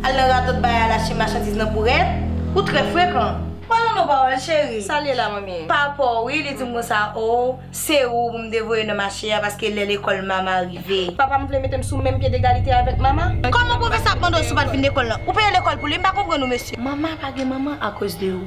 Al nan radot bay al achte machandiz nan bourèt, ou trè frekan. Pa lan non pawòl cheri. Sa l ye la manmi? Pa pa w wi, li di m konsa oo, se ou pou m te voye nan mache a paske lè lekòl Mama rive. Papa m vle mete m sou menm pye degalite avèk Mama. Kòman pwofesè a ap mande w si w pa t vin lekòl lan? Ou peye lekòl pou li? M pa konprann ou mesye. Mama pa gen manman akoz de ou.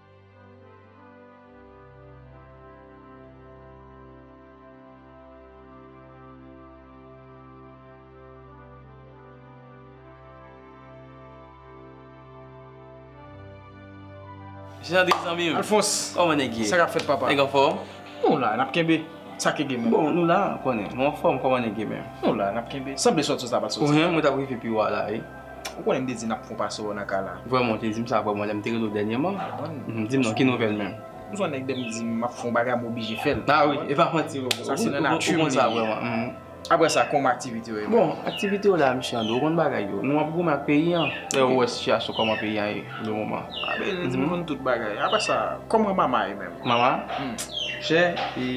Jandri zanmi m. Alfons. Koman nèg ye? Sa k ap fèt papa? Nèg anfòm? Nou la, n ap kenbe. Sa ki gen men? Bon, nou la, ou konnen. Nou anfòm, kòman nèg ye menm? Nou la, n ap kenbe. Sanble sòt sòt sa pa t sòt. Ou menm, mwen t ap rive pi wo a la wi. Ou konnen m te di n ap fon pase w nan kay la. Vrèman ou te di m sa vrèman lè m te rele w dènyèman. Di m non ki nouvèl menm. Ou son nèg lè m di m ap fon bagay m oblije fè l. A wi e pa manti non. Sa se nan nati m li. Aprè sa kòman aktivite yo ye. Bon aktivite yo la misye André ou konn bagay yo. Nou ap goumen ak peyi an. Lè ou wè sitiyasyon kòman peyi an ye pou le moman. A be di m konn tout bagay. Aprè sa kòman mama ye menm. Mama chè e.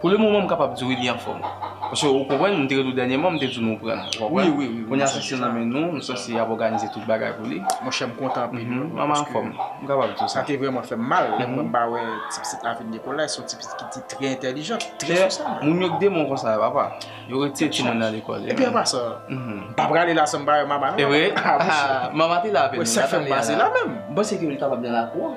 Pou le moman m kapab di wi li anfòm. Paske ou konprann m te rele w dènyèman m te di w nou pran. Ou konprann? Kounya si se nan men nou, nou sanse ap òganize tout bagay pou li. Monchè m kontan anpil wi. Manman anfòm. M kapab di w sa. Sa te vrèman fè m mal lè m wè m pa wè ti pitit la vin Nikolay. Se yon ti pitit ki te trè entèlijant, trè sosyal menm. Moun yo k demon konsa papa. Yo retire timoun nan lekòl. Epi anvan sa, m pa prale la san m pa wè Mama non. E vre? Mama te la avè nou. Sa fè m pase la menm. M panse ke li kapab nan lakou an.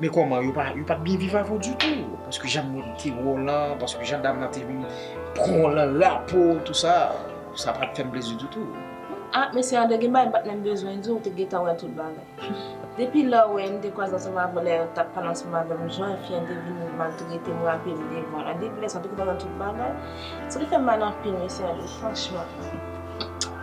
Men kòman, yo pa, yo pat byen viv avè w ditou? Paske jan moun te wè w lan, paske jan dam lan te vin pran w lan lapo, tou sa, sa pat fè m plezi ditou. Ah, mesye André, gen bagay m pat menm bezwen di w, ou te gentan wè tout bagay. Depi lè w wè m te kwaze ansanm avè w, lè w tap pale ansanm avè m, jan fi an te vin maltrete m, rape m devan lan, depi lè sa w te konn wè tout bagay. Sa te fè m mal anpil, mesye André, franchman.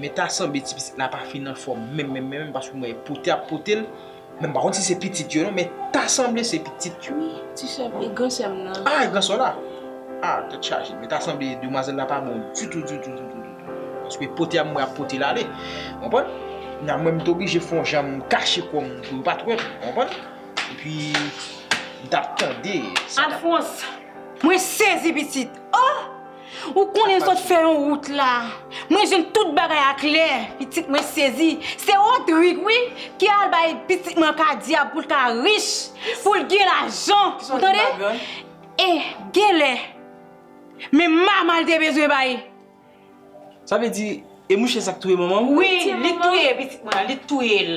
Men ta sanble ti pitit la pa fin anfòm menm menm menm paske mwen pote ap pote l. Men m pa konn si se pitit yo non men ta sanble se pitit yo. Wi ti sè m, e gran sè m nan. A e gran sè w la? A tèt chaje. Men ta sanble demwazèl la pa bon ditou ditou ditou ditou. Paske pote a mwen ap pote l ale. Ou konprann? Kounye a mwen m te oblije fon jan m kache kò m pou yo pa t wè m. Ou konprann? Epi m t ap tande sa. Alphonse, Mwen sezi pitit! Oh! Ou konnen sot fè yon wout la. Mwen jwenn tout bagay a klè, pitit mwen sezi. Se Rodrigue wi ki al bay pitit mwen kadyab pou l ka rich, pou l gen lajan. Ou tande? E gen lè, men mama l te bezwen bay. Sa vle di, e mouche sa k touye manman w? Wi, li t touye pitit mwen an, li t touye l.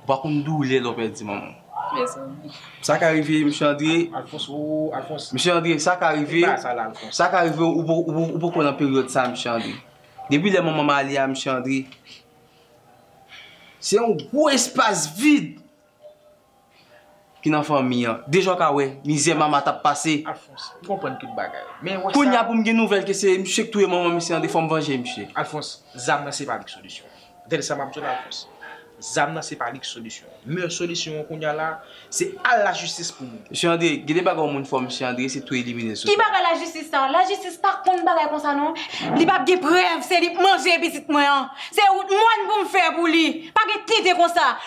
Ou pa konn doulè lè w pèdi manman w. Mezanmi. Sa ka rive mesye Andre. Alphonse ooh Alphonse. Mesye Andre sa ka rive. Epa sa la Alphonse. Sa ka rive ou poko nan peryòd sa mesye Andre. Depi lè manman m ale a mesye Andre. Se yon gwo espas vid. ki nan fanmi an. Deja w ka wè mizè Mama t ap pase. Alphonse, m konprann tout bagay. Men wè sa. Kounya pou m gen nouvèl ke se misye ki touye manman misye an tou fò m vanje misye. Alphonse, zam nan se pa li ki solisyon an. Tande sa m ap di w la Alphonse. Zam nan se pa li ki solisyon an. Meyè solisyon an kounya la, se al lajistis pou nou. Mesye André, gen de bagay yon moun fò mesye André, se tou elimine sou. Ki bagay lajistis sa? Lajistis pa konn bagay konsa non. Li pa p gen prèv se li k manje pitit mwen an. Se wout mòn pou m fè pou li. Pa gen tenten konsa.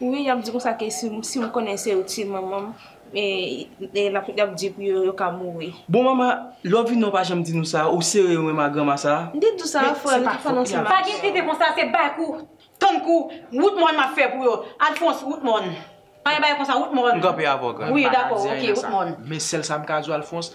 Wi yap di konsa ke si m konnen se yo t ye manman m e yap di pou yo yo ka mouri. Bon mama lò vini ou pa janm di nou sa ou sere wen ma granma sa. M te di w sa a frè m ki fè nan sèm. Pa gen tete konsa se bay kou tann kou wout mòn map fè pou yo Alphonse wout mòn pa gen bagay konsa wout mòn. M kanpe avè w grann. Wi dakò ok wout mòn. Men sèl sa m ka di w Alphonse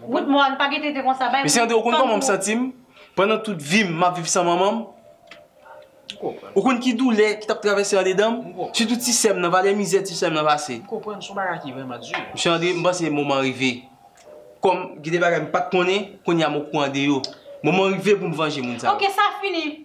Good morn, pa gen tenten konsa bay moun tan pou yo. Mesye André ou konn kòman m santi m pandan tout vi m map viv san manman m? M konprann. Ou konn ki doulè ki tap travèse andedan m? M konprann. Sitou ti sè m nan, valè mizè ti sè m nan pase. M konprann, son bagay ki vrèman di. Mesye André, m panse moman an rive. Kòm gen de bagay m pat konnen, kounye a m okouran de yo. Moman an rive pou m vanje moun sa yo. Ok, sa fini.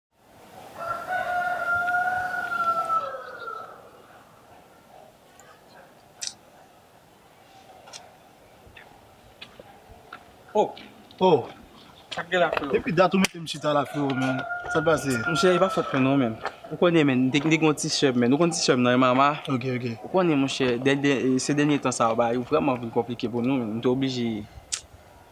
Oh! Oh! Sak gen la freo? Depi dat ou metem chita la freo menn. Sak pase? Monchè e pa fòt mwen non menn. Ou konnen menn m te gen yon ti sèm menn. Ou konn ti sèm nan e mama? Ok ok. Ou konnen monchè, se dènye tan sa yo bagay yo vrèman vin konplike pou nou menn. M te oblije.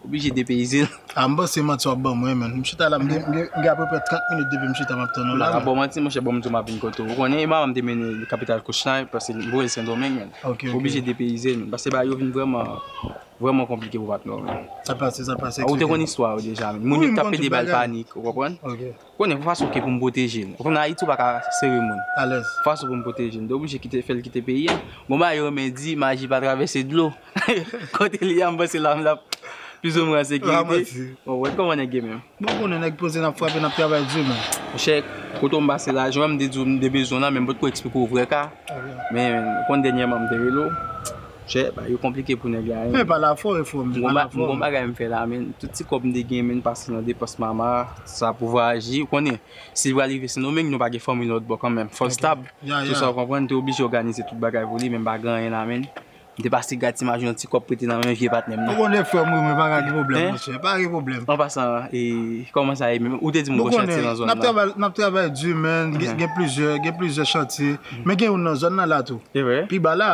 Oblije depeyize l. A m panse manti wap banm wi menn. M chita la m gen apeprè 30 minit depi m chita map tann ou la. M paka baw manti monchè bon m di w map vin kote w. Ou konnen e manman m te mennen l kapital Kouchnaip paske li voye l Sendomeng menn. M oblije depeyize menn paske bagay yo vin vrèman vrèman konplike pou patnè w menn. Sa pase sa pase. Ou te konn istwa yo deja menn. Moun yo t ap pede ba l panik ou konprann. Konnen pou fason ke pou m pwoteje l. Ou konnen Ayiti ou pa ka sere moun. Alèz. Pou fason pou m pwoteje l. M te oblije kite, fè l kite peyi a. Bon bagay yo men di, maji pa travèse dlo. Kote li a m panse la m la plis ou mwen an sekirite. La mwen di. Bon wèl kòman nèg ye menm. Bon ou konnen nèg poze n ap frape n ap travay di men. Monchè, kote ou m pase la, jan m te di w m te bezwen w la men m potko eksplike w vrè ka. Men ou konnen dènyèman m te rele w. Chè bagay yo konplike pou nèg la. Men pala fò e fò men pala fò. M gon bagay m fè la men tout ti kòb m te gen men m pase nan depans mama sa pou vwayaje ou konnen si l pral rive sendomeng nou pa gen fanmi lòt bò kanmenm fò l stab sou sa ou konprann m te oblije òganize tout bagay pou li men m pa gen anyen nan men m te pase gad ti maji yon ti kòb prete nan men vye patnè m nan. M konnen frè m wi men pa gen pwoblèm monchè pa gen pwoblèm. An pasan e kòman sa ye menm ou te di m gon chantye nan zòn nan. M konnen n ap travay di men gen plizyè gen plizyè chantye men gen youn nan zòn nan la tou. Evre? Pi ba la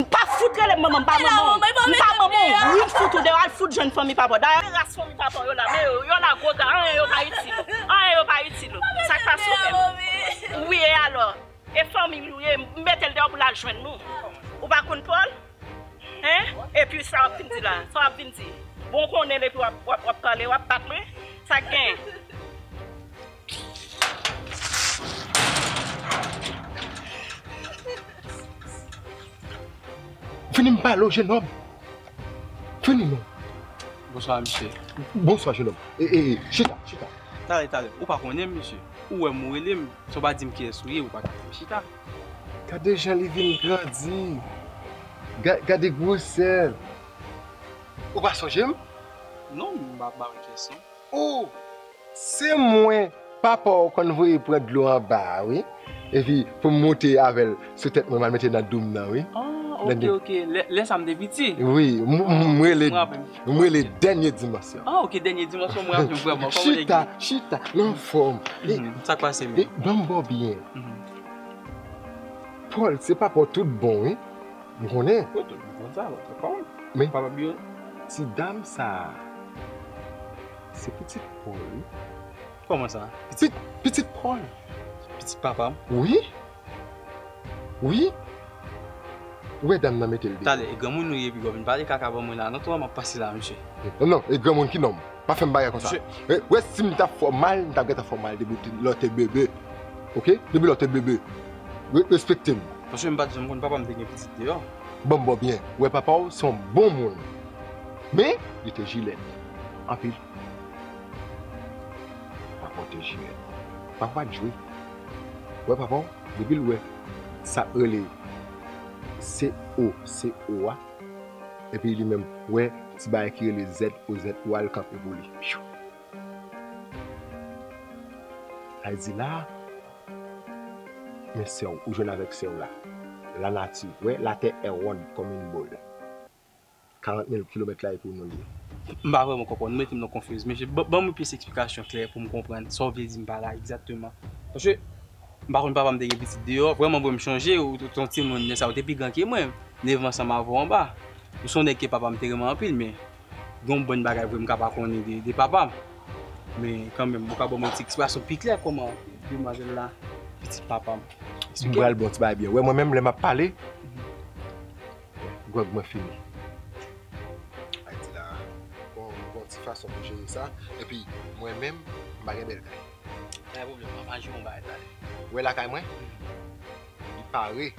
M pa fout rele m manman, m pa manman w. M pa manman w, wi m fout ou deyò, al fout jwenn fanmi papa w. Dayè ki ras fanmi papa w yo la, men yo, yo la gwo gra, anyen yo pa itil ou. Anyen yo pa itil ou. Sa k pa sove m. Wi e alò? E fanmi nou ye, m mete l deyò pou l al jwenn nou. Ou pa konn Pòl? Hein? Epi sa w ap vin di la? Sa w ap vin di? Bon w konnen l epi w ap pale, w ap bat mwen? Sa k gen? Fini m pale w jenom. Fini non. Bonswa misye. Bonswa jenom. E, e, e, chita, chita. Tale, tale. Ou pa konnen m misye. Ou wè m ou rele m. Si w pa di m kiyès ou ye, ou pa ka fè m chita. Gade jan li vin grandi. Ga, gade gwosè l. Ou pa sonje m? Non, m pa, m pa wè kiyès non. Ou! Se mwen papa w konn voye pran dlo anba a wi epi pou m moute avè l sou tèt mwen m al mete nan doum nan wi. An ok ok lè sa m te piti. Wi m rele m rele dènye dimansyon. An ok dènye dimansyon m raple m vrèman kòman nèg yo. Chita chita m anfòm. Sa k pase menm. Banm ba w byen. Pòl se papa w tout bon wi m konnen. Mwen konn sa m konn papa m. Men ti dam sa a. Se pitit Paul wi. Kòman sa? Pitit, pitit Paul? Pitit papa m? Wi. Wi. Ou wè dam nan mete l deyò. Tande, e granmoun ou ye epi wap vin pale kaka ban mwen la non twa, map pase la a mesye. Non, non, e granmoun ki nonm? Pa fè m bagay konsa. Mesye. Ou wè si m ta fè w mal, m ta gentan fè w mal depi lè w te bebe. Ok? Depi lè w te bebe. Respekte m. Mesye m pat janm konn papa m te gen pitit deyò. Ban m bo byen. Ou wè papa w se yon bon moun. Men, li te jilèd. anpil papaw te jwe papaw pat jwe ou wè papaw depil wè sak rele COCO a epi li menm wè ti bagay ki rele ZOZO a li kanpe pou li piyou sa vle di la men sèw ou jwenn avèk sèw la lanati wè latè è wonn kòm yn bòl. 40 mil kilomèt la e pou nou liye. M pa vrèman konprann, nou mete m nan konfuz mesye, ban mwen plis eksplikasyon klè pou m konprann sa w vle di m pa la egzakteman. Paske m pa konn papa m te gen pitit deyò, vrèman vre m chonje ou te yon timoun lè sa a ou te pi gran ke mwen, nevan an sa m avè w anba. Ou se yon nèg ke papa m te renmen anpil men gen yon bann bagay vre m ka pa konnen de papa m. Men kanmenm ou ka ban mwen yon ti eksplikasyon pi klè kòman demwazèl la pitit papa m. M pral ban w ti bagay byen wè mwen menm lè m ap pale. Gwòg mwen fini. Ayiti la gon ti fason pou jere sa. Epi mwen menm m pa gen bèl kay. Pa gen pwoblèm, ann jere yon bagay talè. Ou wè lakay mwen? Li pare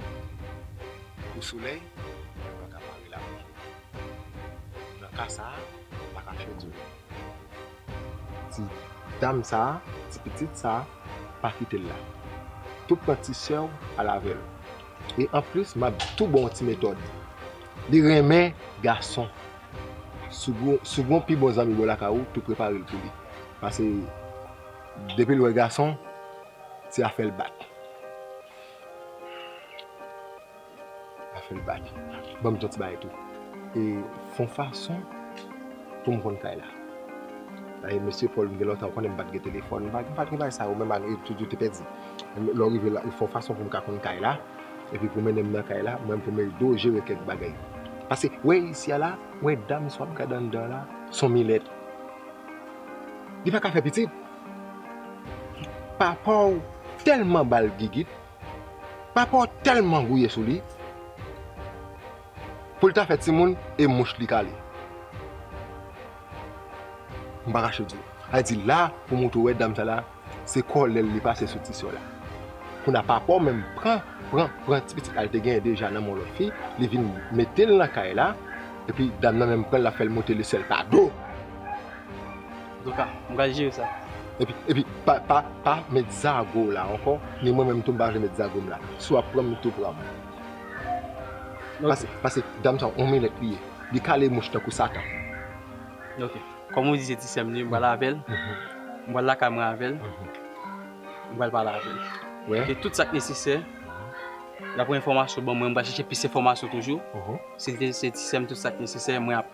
pou solèy, men li pa ka pare lapli. Nan ka sa a, m pa ka fè diyo. Di dam sa, ti pitit sa, pa kite l la. Tou pran ti sè w al avè l. E anplis m ap tou ba w yon ti metòd. Li renmen gason. Si w gen yon pi bon zanmi bò lakay ou, tou prepare l pou li. Pase depi l wè gason, se afè l bat. Pa fè l bat. Ban m ton ti bagay tou. E fon fason pou m konn kay la. Dayè mesye Pòl m gen lontan m konnen m pa t gen telefòn. M pa t gen bagay sa yo menm ak tout yo te pèdi. Lè w rive la ou fon fason pou m ka konn kay la. Epi pou mennen m nan kay la. Mwen pou m ede w jere kèk bagay. Pase wè isi a la. Wè dam sa w ap gade anndan an la. S on milèt. Li pa ka fè pitit. Papa w tèlman ba l gigit. Papa w tèlman gouye sou li pou l ta fè timoun e mouch li kale. M pa kache di w. Sa di la pou mwen tou wè dam sa la se kòlè l li pase sou ti sè w la. Kounye a papa w menm pran pran pran ti pitit la l te genyen deja nan men yon lòt fi li vin mete l nan kay la epi dam nan menm pran l l ap fè l monte lesèl pa do. Doka, m pral jere sa. Epi, epi, pa, pa met zago w la ankò, ni mwen menm tou m pa vle met zago m la. Si w ap pran m, tou pran m. Pase, pase, dam sa on milèt li ye. Li kale mouch tankou satan. Ok, kòm ou di se ti sè m li, m pral avè l, m pral lakay mwen avè l, m pral pale avè l. Epi tout sa k nesesè, dapre enfòmasyon ou ban mwen, m pral chèche plis enfòmasyon toujou. Si l te se ti sè m, tout sa k nesesè, mwen ap.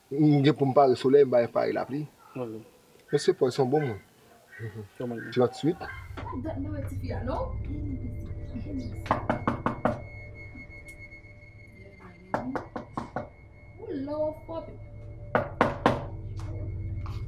M gen pou m pare solèy, m bay pare lapli. Mesye Paul se yon bon moun. 38.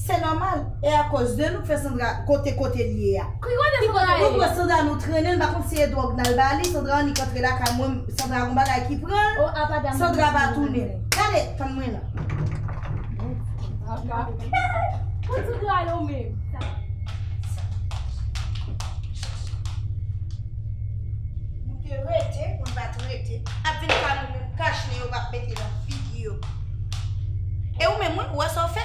Se normal e a koz de nou k fè Sandra kote kote li ye a. Ki kote Sandra ye? Mwen kwè Sandra nou trennenl pa konn si e drog nal ba li Sandra annik antre lakay mwen Sandra gon bagay ki pranl Sandra pa tounen gade fann mwen nan. Kot Sandra yo menm? Nou te rete pou n pat rete ap vin pale menm kach nen yo pap mete nan figi yo. E ou menm wi, ou wè sa w fè?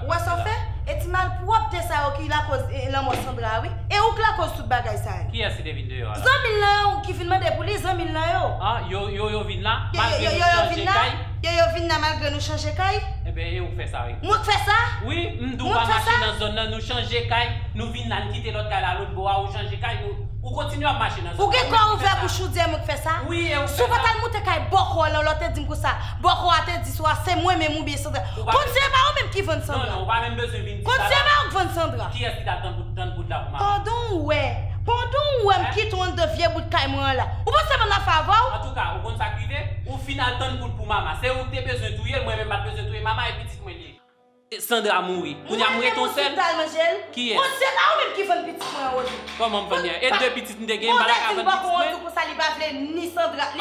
Ou wè sa w fè? E ti malpwòpte sa yo ki lakoz lanmò Sandra a wi. E ou k lakoz tout bagay sa yo. Kiyès ki te vin deyò a la? Zanmi l lan yo ki vin mande pou li, zanmi l lan yo. Ah, yo, yo, yo vin la, malgre nou chanje kay? Yo, yo vin la, malgre nou chanje kay? Enben, e ou k fè sa wi. Mwen k fè sa? Wi, m di w pa mache nan zòn nan, nou chanje kay, nou vin la, n kite lòt kay la lotbo a, ou chanje kay, nou. Ou kontinye ap mache nan zòn nan. Ou gen kò ouvè bouch ou di e mwen ki fè sa? Wi e ou ki fè sa? Si w pa t al moute kay bòkò lan lò te di m konsa, bòkò a te di sou a se mwen menm oubyen Sandra. Kondisyon e pa ou menm ki vann Sandra. Non non ou pa menm bezwen vin di sa la. Kondisyon e pa ou ki vann Sandra. Kiyès ki t al tann poud la pou mama? Pandan ou wè, pandan ou wè m kite w anndan vye bout kay mwen an la. Ou panse m an afè avè w? Antouka, ou konn sa k rive? Ou fin al tann poud pou mama. Se ou ki te bezwen touye l, mwen menm m pa t bezwen touye mama e pitit mwen li ye. Sandra mouri kounya m ret on sèl kiyès. Kòmanm vann ya e 2 pitit m te gen m pa ta ka vann pitit mwen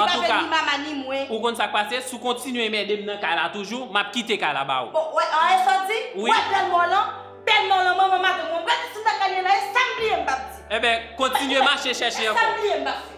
antouka ou konn sak pase si w kontinye mède m nan kay la toujou map kite kay la ba ou wi. Enben kontinye mache chèche ankò.